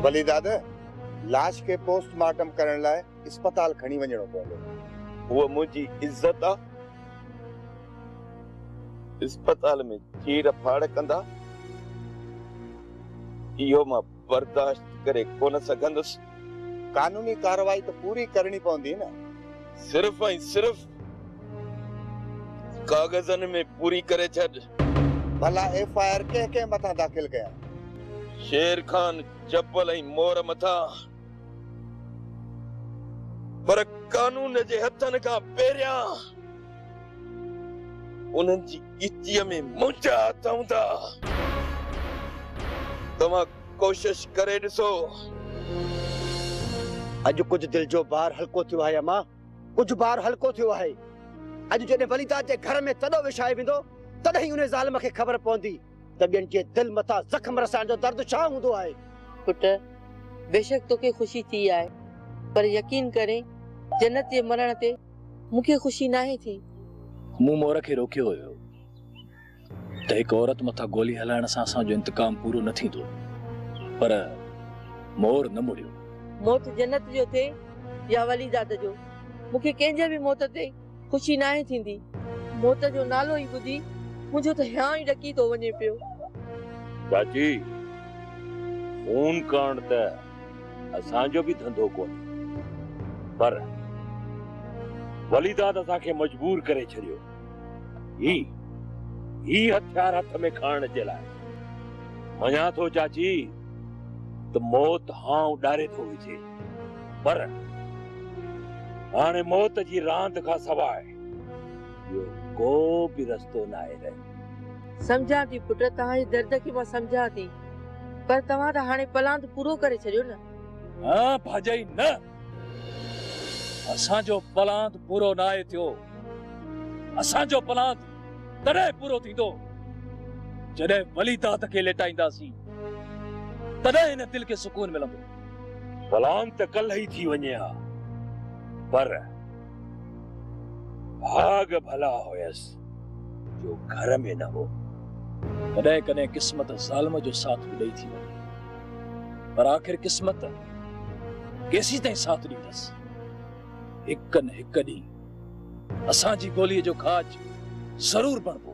ڀلي دادا، لاش کي پوسٽ مارٽم ڪرڻ لاء اسپتال کڻي وڃڻو پوندو. هوء منهنجي عزت آ. اسپتال ۾ چير ڦاڙ ڪندا. اهو مان برداشت ڪري ڪونه سگهندس. قانوني ڪارروائي ته پوري ڪرڻي پوندي نه. صرف ۽ صرف ڪاغذن ۾ پوري ڪري ڇڏ. ڀلا ايف آء آر ڪنهن ڪنهن مٿان داخل ڪيان؟ شير خان جبل ۽ مور مٿان. پر قانون جي هٿن کان پهريان. انهن جي ڳچيء ۾ منهنجا هٿ هوندا. توهان ڪوشش ڪري ڏسو. اڄ ڪجهه دل جو بار هلڪو ٿيو آهي امان. ڪجهه بار هلڪو ٿيو آهي. اڄ جڏهن وليداد جي گهر ۾ تڏو وڇايو ويندو، تڏهن ئي انهي ظالم کي خبر پوندي ته ٻين جي دل مٿان زخم رسائڻ جو درد ڇا هوندو آهي. پٽ! بيشڪ توکي خوشي ٿي آهي، پر يقين ڪرين جنت جي مرڻ تي. مون کي خوشي ناهي ٿي. مون مور کي روڪيو هيو ته هڪ عورت مٿان گولي هلائڻ سان اسان جو انتقام پورو نه ٿيندو پر مور نه مڙيو. موت جنت جو ٿئي يا وليداد جو مون کي ڪنهن جي به موت تي خوشي ناهي ٿيندي. موت جو نالو ئي ٻڌي منهنجو ته هيانء ئي ڏڪي ٿو وڃي پيو. چاچي فون ڪرڻ ته. اسان جو به ڌنڌو ڪونهي پر وليداد اسان کي مجبور ڪري ڇڏيو هي هي هٿيار هٿ ۾ کڻڻ جي لاء مڃان ٿو چاچي ته موت هانء ڏاري ٿو وجهي پر هاڻي موت جي راند کان سواء ٻيو ڪو به رستو ناهي رهيو سمجهان ٿي پٽ، توهان جي درد کي مان سمجهان ٿي، پر توهان ته هاڻي پلاند پورو ڪري ڇڏيو نه. نه ڀاڄائي نه، اسان جو پلاند پورو ناهي ٿيو، اسان جو پلاند تڏهن پورو ٿيندو، جڏهن وليداد کي ليٽائينداسين، تڏهن هن دل کي سڪون ملندو. پلاند ته ڪلهه ئي ٿي وڃي ها، پر ڀاڳ ڀلا هيس. جو گهر ۾ نه هو. ڪڏهن ڪڏهن قسمت ظالم جو ساٿ به ڏئي ٿي وڃي پر آخر قسمت ڪيسين تائين ساٿ ڏيندس. هڪ نه هڪ ڏينهن اسان جي ٻوليء جو کاڄ ضرور بڻبو.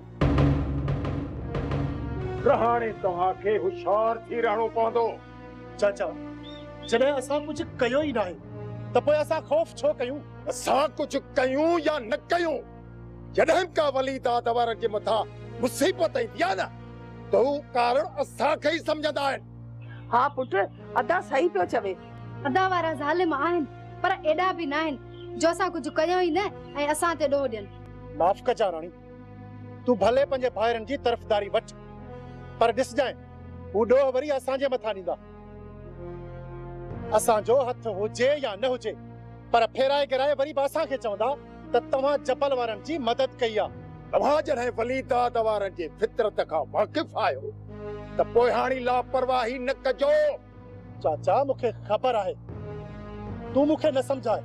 رهاڻي توهان کي هوشيار ٿي رهڻو پوندو. چاچا جڏهن اسان ڪجهه ڪيو ئي ناهي ته پوء اسان خوف ڇو ڪيون؟ اسان ڪجهه ڪيون يا نه ڪيون. جڏھن ڪا ولي داد وارن جي مٿان مصيبت ايندي آھي نه ته ھو ڪارڻ اسان کي ئي سمجھندا آھن. ھا پٽ ادا صحيح پيو چوي. ادا وارا ظالم آھن پر ايڏا به ناھن جو اسان ڪجھ ڪيون ئي نه ۽ اسان تي ڏوھ ڏين. معاف ڪجان راڻي، تون ڀلي پنھنجي ڀائرن جي طرفداري وٺ پر ڏسجانء ھو ڏوھ وري اسان جي مٿان ڏيندا. اسان جو ھٿ ھجي يا نه ھجي پر ڦيرائي گھرائي وري به اسان کي چوندا. ته توهان جبل وارن جي مدد ڪئي آ. اوهان جڏهن وليداد وارن جي فطرت کان واقف آهيو ته پوء هاڻي لاپرواهي نه ڪجو. چاچا مون کي خبر آهي تون مون کي نه سمجهائي.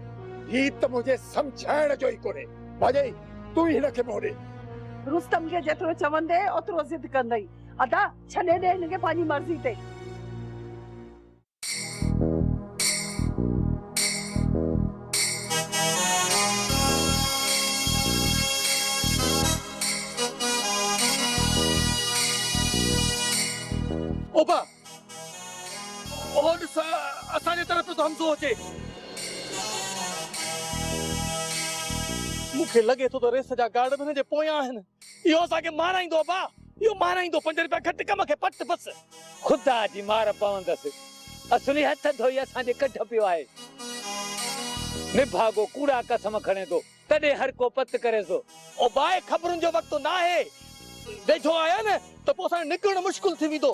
هي ته منهنجي سمجهائڻ جو ئي ڪونهي ڀاڄائي تون ئي هن کي منهن ڏي. رستم کي جيترو چوندي اوترو ضد ڪندئي. ادا ڇڏي ڏي هن کي پنهنجي مرضي تي. اوبه! اهو ڏس، اسان جي طرف پيو ٿو حمزو اچي. مون کي لڳي ٿو ته ريس جا گارڊ به هن جي پويان آهن. اهو اسان کي مارائيندو ابا اهو مارائيندو پنج رپيا گهٽ ڪم کي پٽ بس. خدا جي مار پوندس اصلي هٿ ڌوئي اسان جي ڪڍ پيو آهي نڀاڳو ڪوڙا قسم کڻي ٿو تڏهن هر ڪو پت ڪري ٿو. او باء خبرن جو وقت ناهي ويجهو آيا نه ته پوء اسان جو نڪرڻ مشڪل ٿي ويندو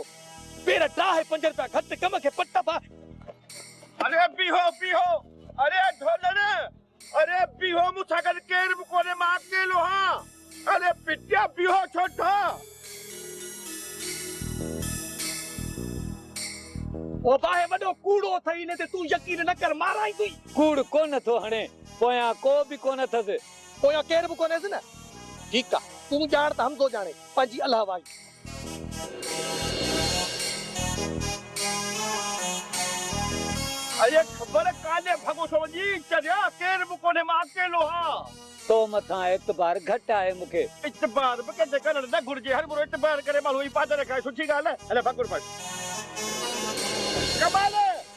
پير ٽاهي پنج رپيا گهٽ ڪم کي پٽ ابا. اري بيهو بيهو اري ڍولڙ اري بيهو مون سان گڏ ڪير به ڪونهي مان اڪيلو هان اري بٽيا بيهو ڇو ٿا. او باهه وڏو ڪوڙو اٿئي ان تي تون يقين نه ڪر مارائين تي. ڪوڙ ڪونه ٿو هڻي پويان ڪو به ڪونه اٿس. پويان ڪير به ڪونهيس نه. ٺيڪ آ تون ڄاڻ ته حمزو ڄاڻي پنهنجي الهه وائي. اڙي خبر ڪانهي ڀڳوسو جي چريا ڪير به ڪونهي مان اڪيلو آ. تو مٿان اعتبار گهٽ آهي مون کي. اعتبار به ڪنهن تي ڪرڻ نه گهرجي هر ڀورو اعتبار ڪري ماڻهو هي پاٽ نه کائي سٺي ڳالهه آهي هلي ڀاڪر پچ. ڪمال.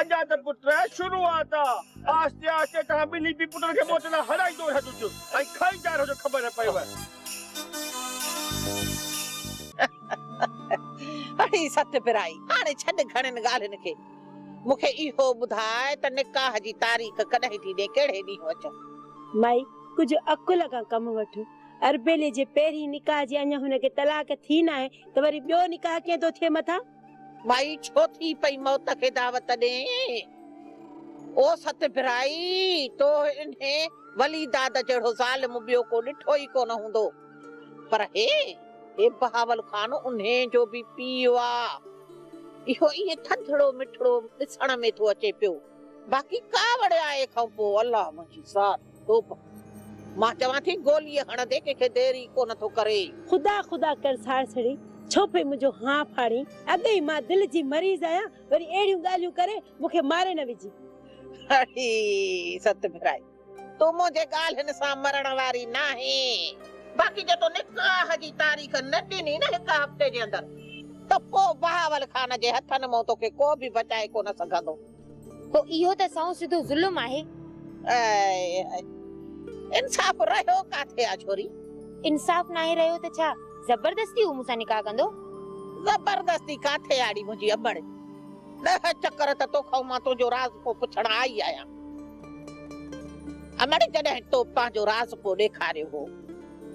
ادا ته پٽ شروعات آ آهستي آهستي توهان ٻنهي پي پٽن کي موت لاء هرائيندو رهجو جو ۽ کائيندا رهجو خبر نه پئيو. اڙي ست پرائي هاڻي ڇڏ گهڻين ڳالهين کي مون کي اهو ٻڌاء ته نڪاح جي تاريخ ڪڏهن ٿي ڏي ڪهڙي ڏينهن اچون. مائي ڪجهه عقل کان ڪم وٺ اربيلي جي پهرين نڪاح جي اڃا هن کي طلاق ٿي ناهي ته وري ٻيو نڪاح ڪيئن ٿو ٿئي مٿان. مائي ڇو ٿي پئي موت کي دعوت ڏئين. او ست ڀرائي! تو انهي ولي داد جهڙو ظالم ٻيو ڪو ڏٺو ئي ڪونه هوندو. پر هي؟ هي بهاول خان انهي جو به پيء آ. اهو ائين ٿڌڙو مٺڙو ڏسڻ ۾ ٿو اچي پيو. باقي ڪاوڙ آء کانپوء الله منهنجي ذات. ڌوپ، مان چوان ٿي گوليء هڻندي ڪنهن کي دير ئي ڪو نه ٿو ڪري. خدا خدا ڪر ساڻسڻي، ڇو پئي منهنجو هانء ڦاڙين؟ اڳ ئي مان دل جي مريض آهيان، وري اهڙيون ڳالهيون ڪري مون کي ماري نه وجهي. اڙي ست ڀرائي، تون منهنجي ڳالهين سان مرڻ واري ناهين. باقي جي تو نڪاح جي تاريخ نه ڏني نه هڪ هفتي جي اندر، ته پوء بهاول خان جي هٿن مان توکي ڪو به بچائي ڪو نه سگهندو. پوء اهو ته سائو سڌو ظلم آهي. اي انصاف رهيو ڪاٿي آ ڇوري. انصاف ناهي رهيو ته ڇا زبردستي هو مون سان نڪاح ڪندو. زبردستي ڪاٿي آ ڙي منهنجي ابڙ. ڏهه چڪر ته توکائون مان تنهنجو راز پو پڇڻ آئي آهيان. امڙ جڏهن تو پنهنجو راز پو ڏيکاريو هو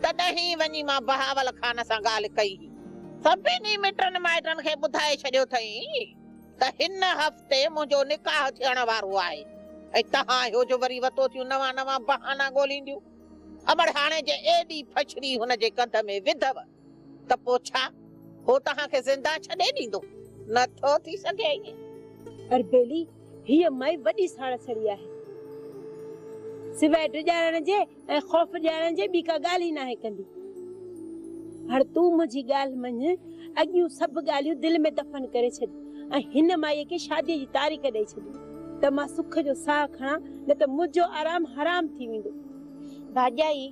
تڏهن ئي وڃي مان بهاول خان سان ڳالهه ڪئي هئي. سڀني مٽن مائٽن کي ٻڌائي ڇڏيو اٿئي. ته هن هفتي منهنجو نڪاح ٿيڻ وارو آهي ۽ تهان اهو جو وري وتو ٿيون نوان نوان بهانا ڳولينديون. امڙ هاڻي جي ايڏي ڦڇڙي هن جي ڪنڌ ۾ وڌو ته پوء ڇا؟ هو توهان کي زنده ڇڏي ڏيندو؟ نه ٿو ٿي سگهي ائين. اربيلي، هيء مئي وڏي ساڙ سڙي آهي. سواء ڊڄارڻ جي ۽ خوف ڄاڻڻ جي ٻي ڪا ڳالهه ئي ناهي ڪندي. هاڻ تون منهنجي ڳالهه مڃ، اڳيون سڀ ڳالهيون دل ۾ دفن ڪري ڇڏ ۽ هن مائيء کي شاديء جي تاريخ ڏئي ڇڏ ته مان سک جو ساهه کڻان، نه ته منهنجو آرام حرام ٿي ويندو. ڀاڄائي،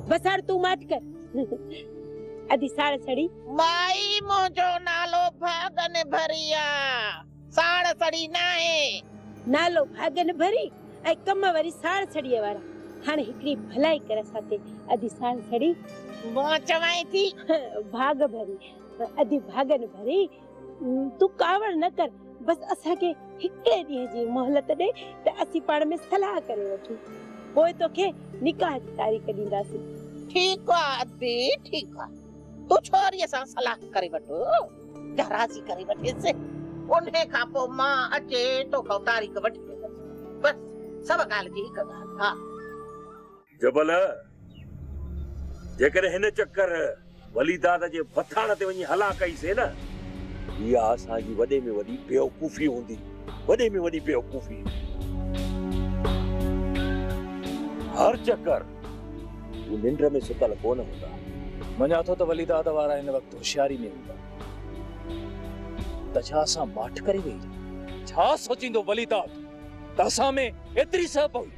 بس هاڻ تون ماٺ ڪر. ادي ساڙ سڙي. مائي، منهنجو نالو ڀاڳنڀريا. ساڙ سڙي ناهي. نالو ڀاڳ نڀري ۽ ڪم وري ساڙ سڙيء وارا. هاڻي هڪڙي ڀلائي ڪر اسان تي ادي ساڙ سڙي. مون چوانء ٿي. ڀاڳ ڀري ادي ڀاڳ نڀري. تون ڪاوڙ نه ڪر بس اسان کي هڪڙي ڏينهن جي مهلت ڏي ته اسين پاڻ ۾ صلاح ڪري وٺون پوء توکي نڪاح جي تاريخ ڏينداسين. ٺيڪ آ ادي ٺيڪ آ. تون ڇوريء سان صلاح ڪري وٺ يا راضي ڪري وٺيس، انهيء کان پوء مان اچي توکان تاريخ وٺي ويندس. بس سڀ ڳالهه جي هڪ ڳالهه ها. جبل، جيڪڏهن هن چڪر ولي دادا جي بٿاڻ تي وڃي هلا ڪئي سين نه، اها اسان جي وڏي ۾ وڏي بيوقوفي هوندي، وڏي ۾ وڏي بيوقوفي. هر چڪر. هو ننڊ ۾ ستل ڪونه هوندا. مڃان ٿو ته وليداد وارا هن وقت هوشياري ۾ هوندا. ته ڇا اسان ماٺ ڪري ويهي رهيون؟ ڇا سوچيندو وليداد ته اسان ۾ ايتري سهه پوي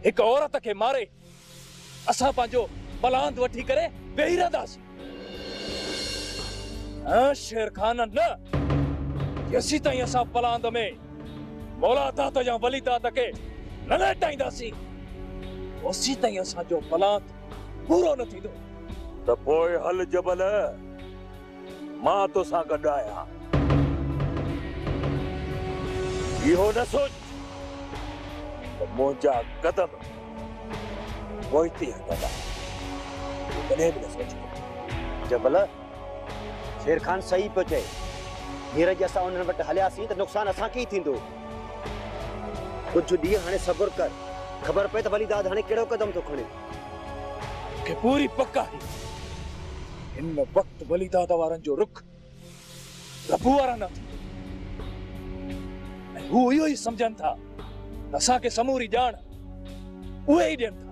هڪ عورت کي ماري اسان پنهنجو پلاند وٺي ڪري ويهي رهنداسين؟ ۽ شير خان نه! جيسيتائين اسان پلاند ۾ مولا داد يا ولي داد کي نه ليٽائينداسين، اوسيتائين اسان جو پلاند پورو نه ٿيندو. ته پوء هل جبل، مان توسان گڏ آهيان. اهو نه سوچ ته منهنجا قدم. پوئتي هن ڳالهه تي ڪڏهن به نه سوچيو هو. جبل، شير خان صحيح پيو چئي. هينئر جي اسان انهن وٽ هلياسين ته نقصان اسان کي ئي ٿيندو. ڪجهه ڏينهن هاڻي صبر ڪر. خبر پئي ته ولي داد هاڻي ڪهڙو قدم ٿو کڻي. مون کي پوري پڪ آهي هن وقت ولي داد وارن جو رخ ربو وارا نه ٿيندو ۽ هو اهو ئي سمجهن ٿا ته اسان کي سموري ڄاڻ اهي ئي ڏين ٿا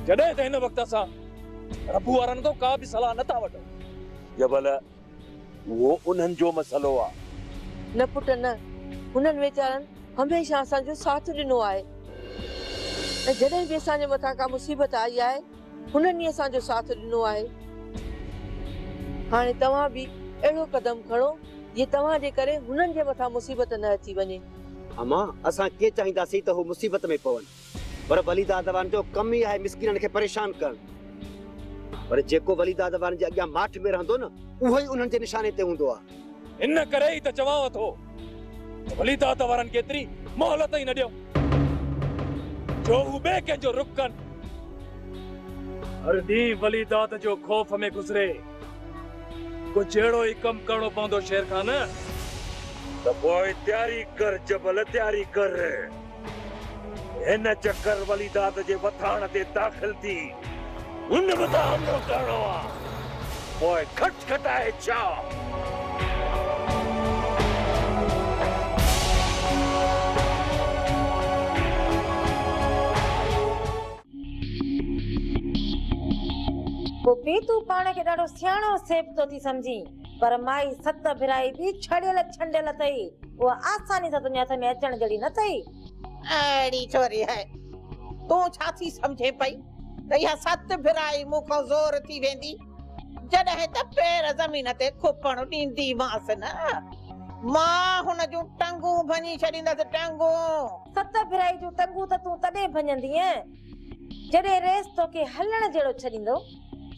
جڏهن ته هن وقت اسان ربو وارن کان ڪا به صلاح نه ٿا وٺون. يا ڀلا اهو انهن جو مسئلو آهي؟ نه پٽ نه، هنن ويچارن هميشه اسان جو ساٿ ڏنو آهي ۽ جڏهن به اسان جي مٿان ڪا مصيبت آئي آهي هنن ئي اسان جو ساٿ ڏنو آهي. هاڻي توهان به اهڙو قدم کڻو، جي توهان جي ڪري هنن جي مٿان مصيبت نه اچي وڃي. اما، اسان ڪيئن چاهينداسين ته هو مصيبت ۾ پون؟ پر ولي دادوان جو ڪم ئي آهي مسڪينن کي پريشان ڪرڻ. پر جيڪو ولي دادوان جي اڳيان ماٺ ۾ رهندو نه، اهو ئي انهن جي نشاني تي هوندو آهي. ان ڪري ئي ته چوانء ٿو ته وليدات وارن کي ايتري مهلت ئي نه ڏيو جو هو ٻئي ڪنهن جو رخ ڪن. هر ڏينهن وليدات جو خوف ۾ گذري. ڪجهه اهڙو ئي ڪم ڪرڻو پوندو شير خان. ته پوء تياري ڪر جبل تياري ڪر. هن چڪر وليداد جي وٿاڻ تي داخل ٿي هن به ته حملو ڪرڻو آ پوء کٽ کٽائي ڇا. پوپي تون پاڻ کي ڏاڍو سياڻو سيبتو ٿي سمجهين. پر مائي ست ڀرائي به ڇڙيل ڇنڊيل اٿئي، اها آساني سان تنهنجي هٿ ۾ اچڻ جهڙي نه اٿئي. اهڙي ڇوري هي، تون ڇا ٿي سمجهين پئي ته اها ست ڀرائي مون کان زور ٿي ويندي، جڏهن ته پير زمين تي کپڻ ڏينديمانس نه، مان هن جون ٽنگون ڀڃي ڇڏيندس، ٽنگون! ست ڀرائي جون ٽنگون ته تون تڏهن ڀڃندينء، جڏهن ريس توکي هلڻ جهڙو ڇڏيندو.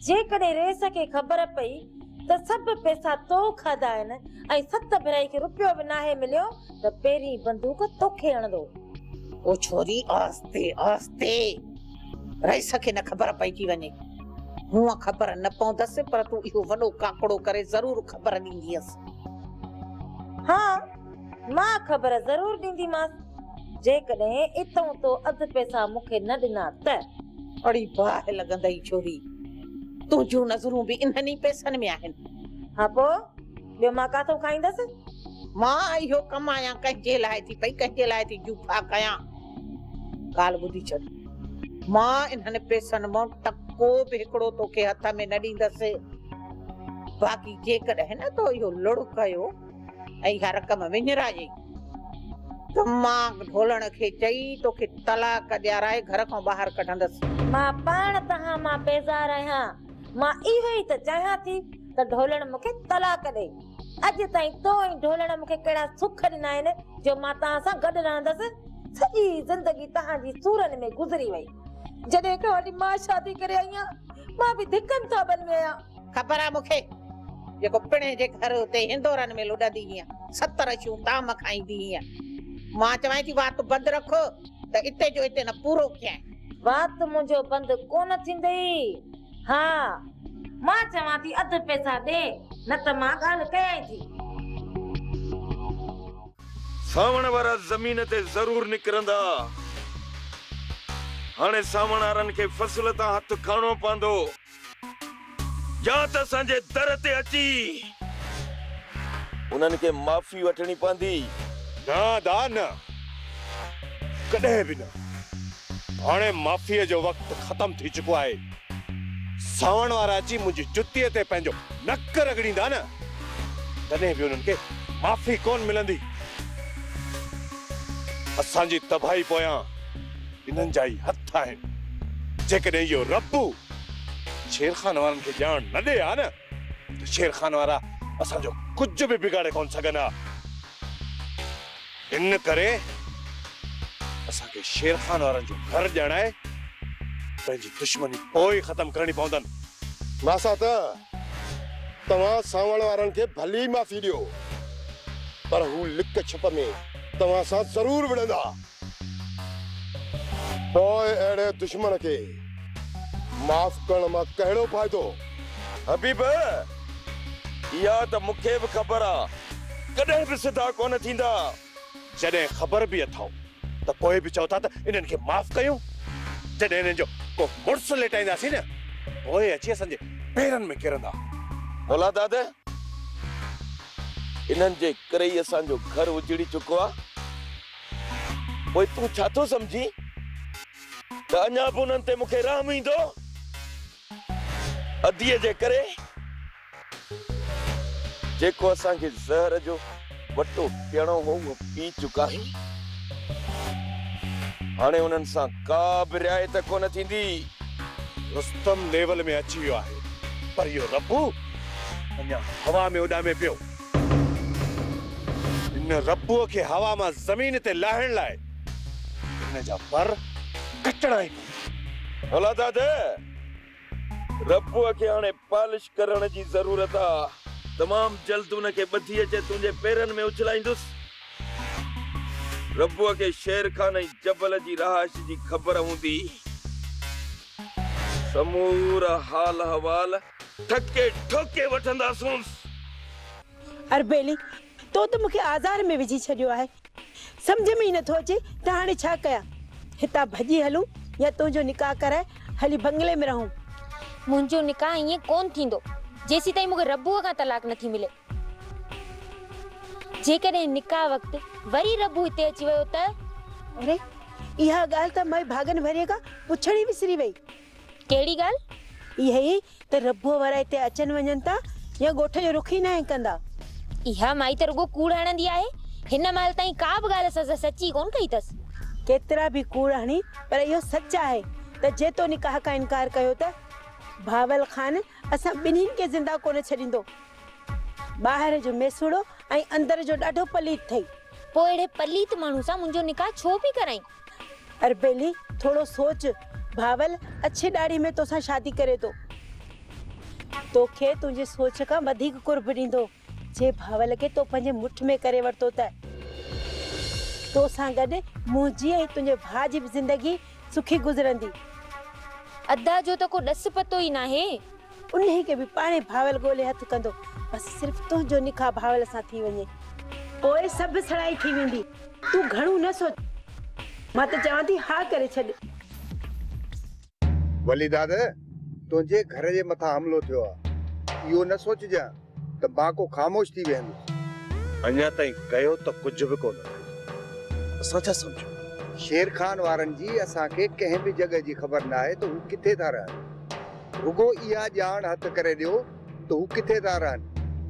جيڪڏهن ريس کي خبر پئي ته سڀ پئسا تو کاڌا آهن ۽ ست ڀرائي کي روپيو به ناهي مليو ته پهرين بندوق توکي هڻندو. او ڇوري آهستي آهستي. ريس کي نه خبر پئجي وڃي. هونء خبر نه پوندس پر تون اهو وڏو ڪاڪڙو ڪري ضرور خبر ڏيندينس. ها! مان خبر ضرور ڏينديمانس، جيڪڏهن اتئون تو اڌ پئسا مون کي نه ڏنا ته. اڙي باهه لڳندئي ڇوري، تنهنجون نظرون به انهن ئي پئسن ۾ آهن. ها پوء ٻيو مان ڪاٿو کائيندس؟ مان اهو ڪم آيان ڪنهن جي لاء ٿي پئي، ڪنهن جي لاء ٿي جوفا ڪيان. ڳالهه ٻڌي ڇڏ، مان انهن پئسن مان ٽڪو به هڪڙو توکي هٿ ۾ نه ڏيندس، باقي جيڪڏهن نه تو اهو لڙ ڪيو، اي هر ڪم وڃرا جي دماغ ڍولڻ کي چئي توکي طلاق ڏيارائي گهر کان ٻاهر ڪڍندس. مان پاڻ توهان مان بيزار آهيان. مان اهو ئي ته چاهيان ٿي ته ڍولڻ مون کي طلاق ڏئي. اڄ تائين تو ۽ ڍولڻ مون کي ڪهڙا سک ڏنا آهن جو مان توهان سان گڏ رهندس. سڄي زندگي توهان جي سورن ۾ گذري وئي. جڏهن هڪڙي وٽي مان شادي ڪري آئي آهيان مان به ڌڪن ٿاٻن ۾ آهيان. خبر آهي مون کي جيڪو پڻهين جي گهر اتي هندورن ۾ لڏندي هئين ستر اشيون طعام کائيندي هئين مان چوانء ٿي وات بند رک ته اتي جو اتي نه پورو ڪيانء. وات منهنجو بند ڪونه ٿيندئي ها مان چوان ٿي اڌ پئسا ڏي نه ته مان ڳالهه ڪيانء ٿي. سانوڻ وارا زمين تي ضرور نڪرندا. هاڻي سانوڻهارن کي فصل تان هٿ کڻڻو پوندو يا ته اسان جي در تي اچي انهن کي معافي وٺڻي پوندي. نه ادا نه. ڪڏهن به نه. هاڻي معافيء جو وقت ختم ٿي چڪو آهي. ساوڻ وارا اچي منهنجي جتيء تي پنهنجو نڪ رڳڙيندا نه، تڏهن به انهن کي معافي ڪونه ملندي. اسان جي تباهي پويان انهن جا ئي هٿ آهن. جيڪڏهن اهو ربو شيرخان وارن کي ڄاڻ نه ڏئي ها نه، ته شير خان وارا اسان جو ڪجهه به بگاڙي ڪونه سگهن ها. ان ڪري اسان کي شير خان وارن جو گهر ڄاڻائي پنهنجي دشمني پوء ئي ختم ڪرڻي پوندن. ماسا ته توهان سانوڻ وارن کي ڀلي معافي ڏيو، پر هو لڪ ڇپ ۾ توهان سان ضرور وڙهندا. پوء اهڙي دشمن کي معاف ڪرڻ مان ڪهڙو فائدو؟ حبيب، اها ته مون کي به خبر آ، ڪڏهن به سڌا ڪونه ٿيندا. جڏهن خبر به اٿئو ته پوء به چئو ٿا ته انهن کي معاف ڪيون. جڏهن انهن جو ڪو مڙس ليٽائينداسين نه، پوء اچي اسان جي پيرن ۾ ڪرندا. مولا داد، انهن جي ڪري ئي اسان جو گهر اجڙي چڪو آ. پوء تون ڇا ٿو سمجهين ته اڃا به انهن تي مون کي رحم ايندو؟ اديء جي ڪري جيڪو اسان کي زهر جو وٽو پيئڻو هو اهو پي چڪا آهيون. هاڻي انهن سان ڪا به رعايت ڪونه ٿيندي. رستم ليول ۾ اچي ويو آهي پر اهو ربو اڃا هوا ۾ اڏامي پيو. هن ربوء کي هوا مان زمين تي لاهڻ لاء هن جا پر ڪٽڻا ئي پوندا. ڀلا دادا! ربوء کي هاڻي پالش ڪرڻ جي ضرورت آ. تمام جلد ان کي ٻڌي اچي تنهنجي پيرن ۾ اڇلائيندس. ربوء کي شير خان ۽ جبل جي رهائش جي خبر هوندي. سمورا حال احوال ٽھڪي ٺوڪي وٺنداسونس. اربيلي، تو ته مون کي آزار ۾ وجھي ڇڏيو آھي. سمجھ ۾ ئي نٿو اچي ته ھاڻي ڇا ڪيان. ھتان ڀڄي ھلون يا تنھنجو نڪاح ڪرائي ھلي بنگلي ۾ رھون. منھنجو نڪاح ائين ڪونھ ٿيندو جيسيتائين مون کي ربوء کان طلاق نٿي ملي. جيڪڏھن نڪاح وقت وري ربو ھتي اچي ويو ته؟ اري! اھا ڳالھ ته مئي ڀاڳن ڀريء کان پڇڻ ئي وسري وئي. ڪهڙي ڳالهه؟ اها ئي ته ربوء وارا هتي اچن وڃن ٿا يا ڳوٺ جو رخ ئي ناهن ڪندا. اها مائي ته رڳو ڪوڙ هڻندي آهي. هن مهل تائين ڪا به ڳالهه اسان سان سچي ڪونه ڪئي اٿس. ڪيترا به ڪوڙ هڻي پر اهو سچ آهي ته جي تو نڪاح کان انڪار ڪيو ته بهاول خان اسان ٻنهين کي زنده ڪونه ڇڏيندو. ٻاهر جو ميسوڙو ۽ اندر جو ڏاڍو پليت اٿئي. پوء اهڙي پليت ماڻهو سان منهنجو نڪاح ڇو پئي ڪرائين؟ اربيلي، ٿورو سوچ، بهاول اڇي ڏاڙهي ۾ توسان شادي ڪري ٿو. توکي تنهنجي سوچ کان وڌيڪ قرب ڏيندو. جي بهاول کي تو پنهنجي مٺ ۾ ڪري ورتو ته توسان گڏ منهنجي ۽ تنهنجي ڀاء جي به زندگي سکي گذرندي. ادا جو ته ڪو ڏس پتو ئي ناهي. انهي کي به پاڻهي ڀاول ڳولي هٿ ڪندو. بس صرف تنهنجو نڪاح ڀاول سان ٿي وڃي. پوء سڀ سڙائي ٿي ويندي. تون گهڻو نه سوچ. مان ته چوان ٿي ها ڪري ڇڏ. ولي داد، تنهنجي گهر جي مٿان حملو ٿيو آهي. اهو نه سوچجان. ته بانڪو خاموش ٿي ويهندو. اڃا تائين ڪيو ته ڪجهه به ڪونه اٿئي. اسان ڇا سمجهون؟ شير خان وارن جي اسان کي ڪنهن به جڳهه جي خبر ناهي ته هو ڪٿي ٿا رهن. رڳو اها ڄاڻ هٿ ڪري ڏيو ته هو ڪٿي ٿا رهن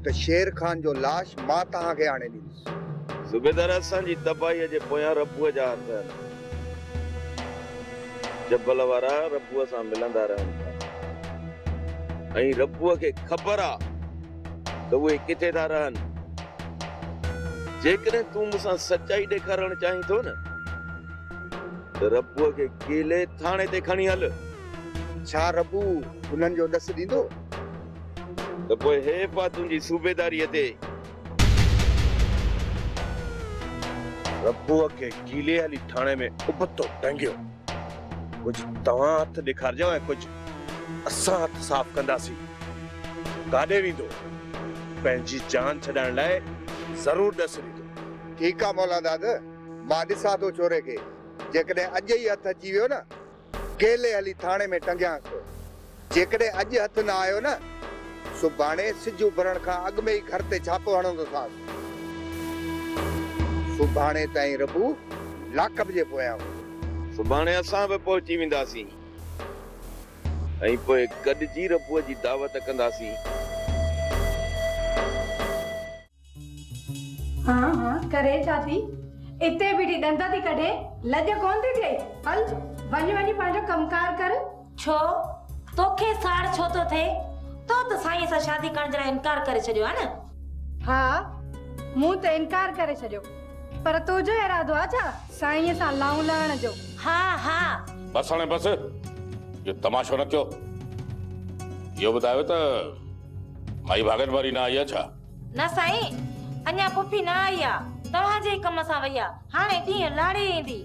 ته شير خان جو لاش مان توهان کي آڻي ڏيندس. صوبيدار اسان جي تباهيء جي پويان ربوء جا هٿ آهن. جبل وارا ربوء سان ملندا رهن ٿا ۽ ربوء کي خبر آ ته اهي ڪٿي ٿا رهن. جيڪڏهن تون مون سان سچائي ڏيکارڻ چاهين ٿو نه ته ربوء کي ڪيلي ٿاڻي تي کڻي هل. ڇا ربو انهن جو ڏس ڏيندو؟ ته پوء هيء پاء تنهنجي صوبيداريء تي. ربوء کي گيلي هلي ٿاڻي ۾ ابتو ٽنگيو. ڪجهه توهان هٿ ڏيکارجو ۽ ڪجهه اسان هٿ صاف ڪنداسين. ڪاڏي ويندو؟ پنهنجي جان ڇڏائڻ لاء ضرور ڏس ڏيندو. ٺيڪ آ مولاداد، مان ڏسان ٿو ڇوري کي. جيڪڏهن اڄ ئي هٿ اچي ويو نه. ڪيلي هلي ٿاڻي ۾ ٽنگيانس ٿو. جيڪڏهن اڄ هٿ نه آيو نه، سڀاڻي سج اڀرڻ کان اڳ ۾ ئي گهر تي ڇاپو هڻندوسانس. سڀاڻي تائين ربو لاڪ اپ جي پويان هوندو. سڀاڻي اسان به پهچي وينداسين ۽ پوء گڏجي ربوء جي دعوت ڪنداسين. هان هان ڪري ڇا ٿي اتي بيٺي ڏند ٿي ڪڍي لڄ ڪون ٿي ٿئي هل وڃ وڃي پنهنجو ڪم ڪار ڪر. ڇو توکي ساڙ ڇو ٿو ٿئي تو ته سائينء سان شادي ڪرڻ جي لاء انڪار ڪري ڇڏيو ها نه. ها مون ته انڪار ڪري ڇڏيو پر تنهنجو ارادو آ ڇا سائينء سان لانهون لهڻ جو. ها ها. بس هاڻي بس اهو تماشو نه ڪيو اهو ٻڌايو ته مائي ڀاڳن واري نه آئي آ ڇا. نه سائين، اڃا پڦي نه آئي آ، توهان جي ئي ڪم سان وئي آ، هاڻي ڏينهن لاڙي ايندي.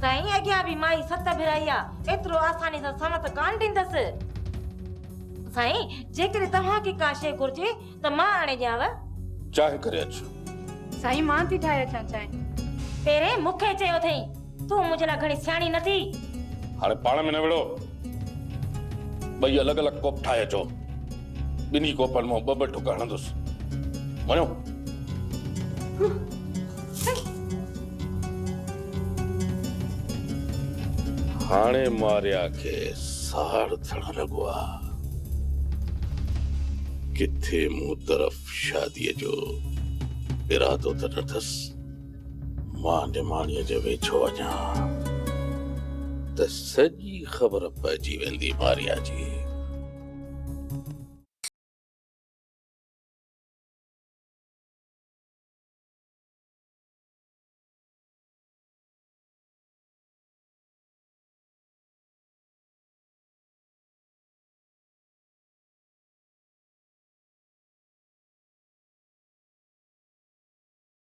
سائين اڳيان به مائي ست ڀيرائي آ، ايترو آساني سان سنوت ڪانه ڏيندس. سائين، جيڪڏهن توهان کي ڪا شيء گهرجي ته مان آڻي ڏيانو. چانهه ڪري اچ. سائين مان ٿي ٺاهي اچان چانهه. پهرين مون کي چيو اٿئي. تون منهنجي لاء گهڻي سياڻي نه ٿي. هاڻي پاڻ ۾ نه وڙهو. ٻئي الڳ الڳ ڪوپ ٺاهي اچو. ٻنهي ڪوپن مان ٻه ٻه ڍڪ هڻندس. وڃو. هاڻي ماريا کي ساڙ ٿيڻ لڳو آ. ڪٿي مون طرف شاديء جو ارادو ته نه اٿس. مان نماڻيء جي ويجهو اچان ته سڄي خبر پئجي ويندي ماريا جي.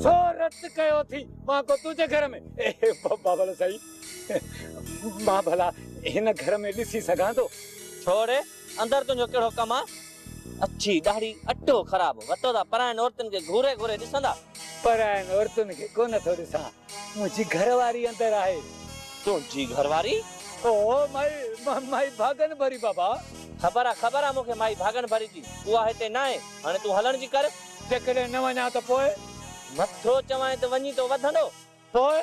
ڇو رت ڪيو ٿي مان ڪو تنهنجي گهر ۾ بابل سائين مان ڀلا هن گهر ۾ ڏسي سگهان ٿو ڇوڙي اندر تنهنجو ڪهڙو ڪم آ اڇي ڏاڙهي اٽو خراب وتو ٿا پرائين عورتن کي گهوري گهوري ڏسندا پرائين عورتن کي ڪونه ٿو ڏسان منهنجي گهر واري اندر آهي. تنهنجي گهر واري؟ او مائي، مائي ڀاڳن ڀري بابا. خبر آ، خبر آ مون کي مائي ڀاڳن ڀري جي. اها هتي ناهي. هاڻي تون هلڻ جي ڪر. جيڪڏهن نه وڃان ته پوء؟ نٿو چوانء ته وڃين ٿو وڌندو. پوء؟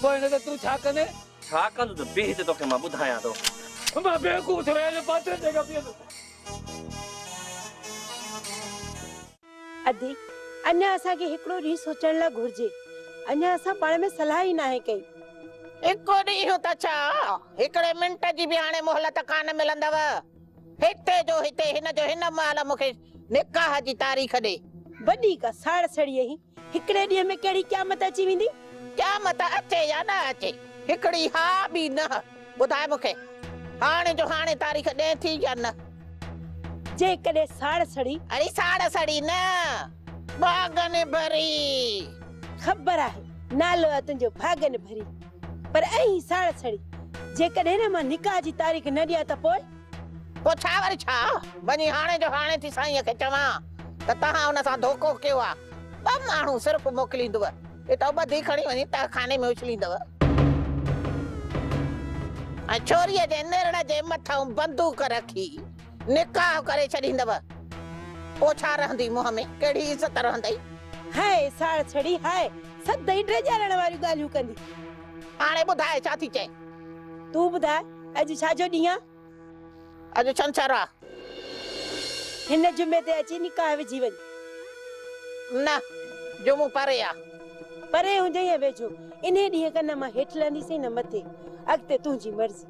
پوء نه ته تون ڇا ڪندين؟ ڇا ڪندس؟ بيهه هتي توکي مان ٻڌايان ٿو. مان بيوقوف ٿيو آهيان جو پاڇڙن جيڪا بيهندس. ادي، اڃا اسان کي هڪڙو ڏينهن سوچڻ لا گهرجي. اڃا اسان پاڻ ۾ صلاح ئي ناهي ڪئي. هڪ ڏينهن ته ڇا، هڪڙي منٽ جي به هاڻي مهلت ڪانه ملندؤ. هتي جو هتي هن جو هن مهل مون کي نڪاح جي تاريخ ڏي. وڏي ڪا ساڙ سڙي اهي. هڪڙي ڏينهن ۾ ڪهڙي قيامت اچي ويندي. قيامت اچي يا نه اچي، هڪڙي ها ٻي نه. ٻڌاء مون کي هاڻي جو هاڻي تاريخ ڏئين ٿي يا نه؟ جيڪڏهن ساڙ سڙي. اڙي ساڙ سڙي نه، ڀاڳ نڀري. خبر آهي، نالو آهي تنهنجو ڀاڳ نڀري. پر ائين ئي ساڙ سڙي. جيڪڏهن نه مان نڪاح جي تاريخ نه ڏيان ته پوء؟ پوء ڇا وري ڇا؟ وڃي هاڻي جو هاڻي ٿي سائينء کي چوان ته تهان هن سان ڌوڪو ڪيو آهي. ٻه ماڻهو صرف موڪليندوء. اتان ٻڌي کڻي وڃي تهخاني ۾ اڇليندؤ ۽ ڇوريء جي نرڙ جي مٿئون بندوق رکي نڪاح ڪري ڇڏيندؤ، پوء ڇا رهندي منهن ۾ ڪهڙي عزت رهندئي؟ هاء ساڙ سڙي، هاء سدائين ڊيڄارڻ واريون ڳالهيون ڪندي. هاڻي ٻڌاء ڇا ٿي چئين؟ تون ٻڌاء اڄ ڇا جو ڏينهن آ؟ اڄ ڇنڇر آ. هن جمعي تي اچي نڪاح وجهي وڃ. نه جمعو پري آ. پري هجي يا ويجهو. انهي ڏينهن کان نه مان هيٺ لهنديسين نه مٿي. اڳتي تنهنجي مرضي.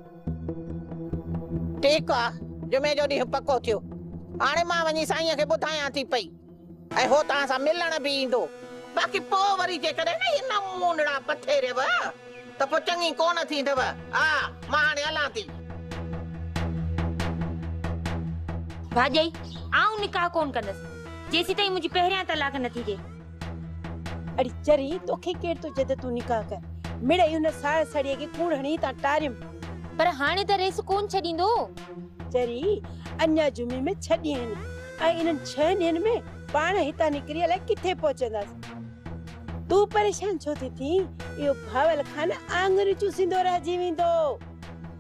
ٺيڪ آ. جمعي جو ڏينهن پڪو ٿيو. هاڻي مان وڃي سائينء کي ٻڌايان ٿي پئي. ۽ هو توهان سان ملڻ به ايندو. باقي پوء وري جيڪڏهن نه اهي نمونڙا پٿيريو ته پوء چڱي ڪونه ٿيندو. آء مان هاڻي هلان ٿي. ڀاڄائي، آئون نڪاح ڪونه ڪندس، جيسيتائين منهنجي پهريان طلاق نه ٿيندي. اڙي چري، توکي ڪير ٿو چئي ته تون نڪاح ڪر. مڙئي ان ساهه سڙيء کي ڪوڙ هڻي هتان ٽاريم. پر هاڻي ته ريس ڪونه ڇڏيندو. چري، اڃا جمعي ۾ ڇهه ڏينهن آهن. ۽ انهن ڇهن ڏينهن ۾ پاڻ هتان نڪري الائي ڪٿي پهچنداس. تون پريشان ڇو ٿي ٿين؟ اهو ڀاول خان آڱريون چوسيندو رهجي ويندو.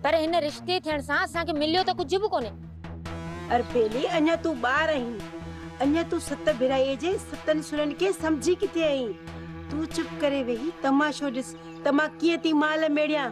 پر هن رشتي ٿيڻ سان اسان کي مليو ته ڪجهه به ڪونهي. اربيلي اڃا تون ٻار آهين. اڃا تون ست ڀيرائيء جي ستن سرن کي سمجهي ڪٿي آهين. تون چپ ڪري ويهي تماشو ڏس ته مان ڪيئن ٿي مال ميڙيان.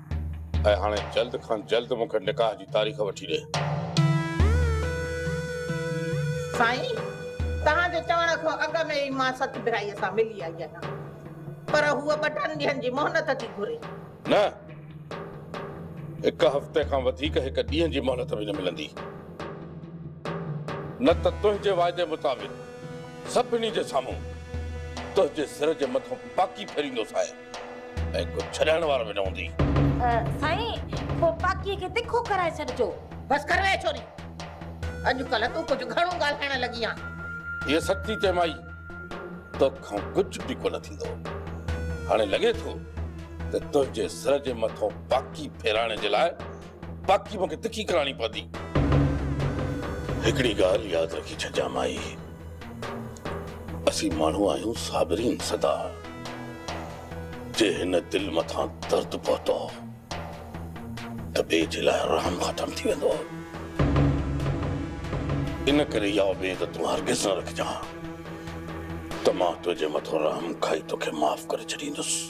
۽ هاڻي جلد کان جلد مون کي نڪاح جي تاريخ وٺي ڏي. سائين! توهان جي چوڻ کان اڳ ۾ ئي مان ست ڀرائيء سان ملي آئي آهيان، پر هوء ٻٽن ڏينهن جي مهلت ٿي گهري. نه! هڪ هفتي کان وڌيڪ هڪ ڏينهن جي مهلت به نه ملندي، نه ته تنهنجي واعدي مطابق سڀني جي سامهون تنهنجي سر جي مٿان پاڪي ڦيريندوسانء. ۽ ڪو ڇڏائڻ وارو به نه هوندي. سائين پوء پاڪيء کي تکو ڪرائي ڇڏجو. بس ڪر ويهه ڇوري. اڄڪلهه تون ڪجهه گهڻو ڳالهائڻ لڳي آن. هيء سچ ٿي چئي مائي. توکان ڪجهه به ڪونه ٿيندو. هاڻي لڳي ٿو ته تنهنجي سر جي مٿو پاڪي ڦيرائڻ جي لاء باقي مون کي تکي ڪراڻي پوندي. هڪڙي ڳالهه ياد رکي ڇڏجان مائي، اسين ماڻهو آهيون صابرين سدا، جي هن دل مٿان درد پهتو ته ٻئي جي لاء رحم ختم ٿي ويندو. ان ڪري اها اميد تون هرگز نه رکجان ته مان تنهنجي مٿو رحم کائي توکي معاف ڪري ڇڏيندس.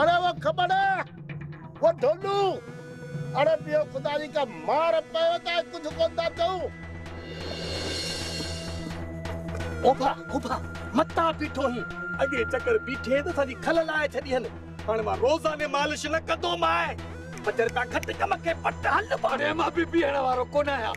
اڙي وو کٻڙ وو ڍولو اڙي پيو خدا جي ڪا مار پيو ته ڪجھ ڪون ٿا چئون. اوڀا اوڀا متان بيٺو هين اڳي چڪر بيٺي ته سڄي کل لاهي ڇڏي هن هاڻي مان روزاني مالش نه ڪندو مائي. پڄر پيا کٽ ڪم کي پٽ هل. اڙي مان بيبي هڻ وارو ڪونه آهيان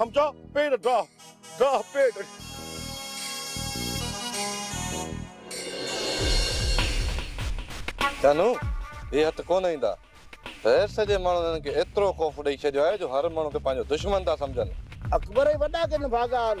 هم جا پير ڊاھ ڊاھ پير. ڪنھن ھي ھٿ ڪونه ايندا. غير سڄي ماڻھن ھنن کي ايترو خوف ڏئي ڇڏيو آھي جو ھر ماڻھو کي پنھنجو دشمن ٿا سمجھن. اڪبر ۽ وڏا ڪي نڀاڳا آھن.